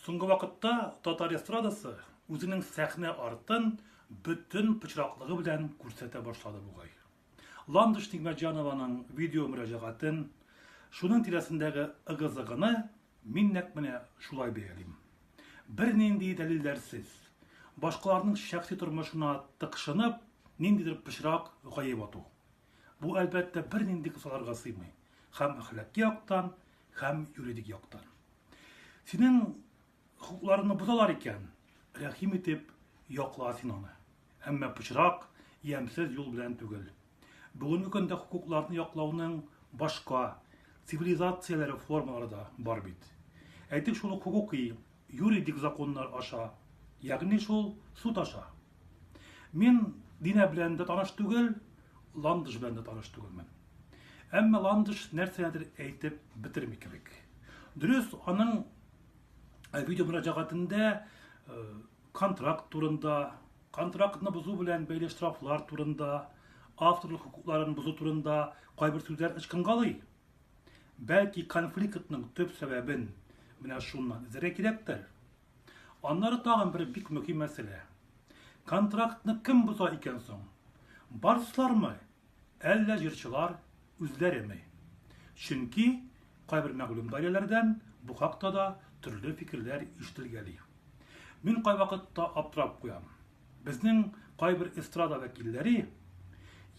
Соңгы вакытта татар эстрадасы үзенең сәхнә артын бөтен пычраклыгы белән күрсәтә башлады бугай. Ландыш Нигмәтҗанованың видео мөрәҗәгатен, шуның тирәсендәге ыгы-зыгыны мин нәкъ менә шулай бәялим. Бернинди дәлилләрсез, башкаларның шәхси тормышына тыкшынып, ниндидер пычрак гаеп ату. Бу, әлбәттә, бернинди кысаларга сыймый. Хәм әхлаки яктан, хәм юридик яктан. Синең хокукларыңны бозалар икән, рәхим итеп якла син аны. Әмма пычрак, ямьсез юл белән түгел. Бүгенге көндә хокукларны яклауның башка цивилизацияләре формалары да бар бит. Әйтик шул ук хокукый, юридик законнар аша, ягъни шул суд аша. Мин Динә белән дә таныш түгел, Ландыш белән дә таныш түгелмен. Әмма Ландыш нәрсәдер әйтеп бетерми кебек. Дөрес, аның э, видео мөрәҗәгатендә э, контракт турында, контрактны бозу белән бәйле штрафлар турында, авторлык хокукларын бозу турында кайбер сүзләр ычкынгалый. Бәлки конфликтның төп сәбәбен менә шуннан эзләргә кирәктер. Аннары тагын бер бик мөһим мәсьәлә. Контрактны кем боза икән соң? Барслармы? Әллә җырчылар үзләреме? Чөнки кайбер мәгълүм даирәләрдән бу хакта да төрле фикерләр ишетелгәли. Мин кайвакытта аптырап куям. Безнең кайбер эстрада вәкилләре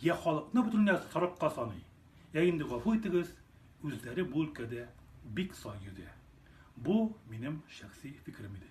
я халыкны бөтенләй сарыкка саный, Ә инде гафу итегез, үзләре бу өлкәдә бик сай йөзә. Бу минем шәхси фикерем иде.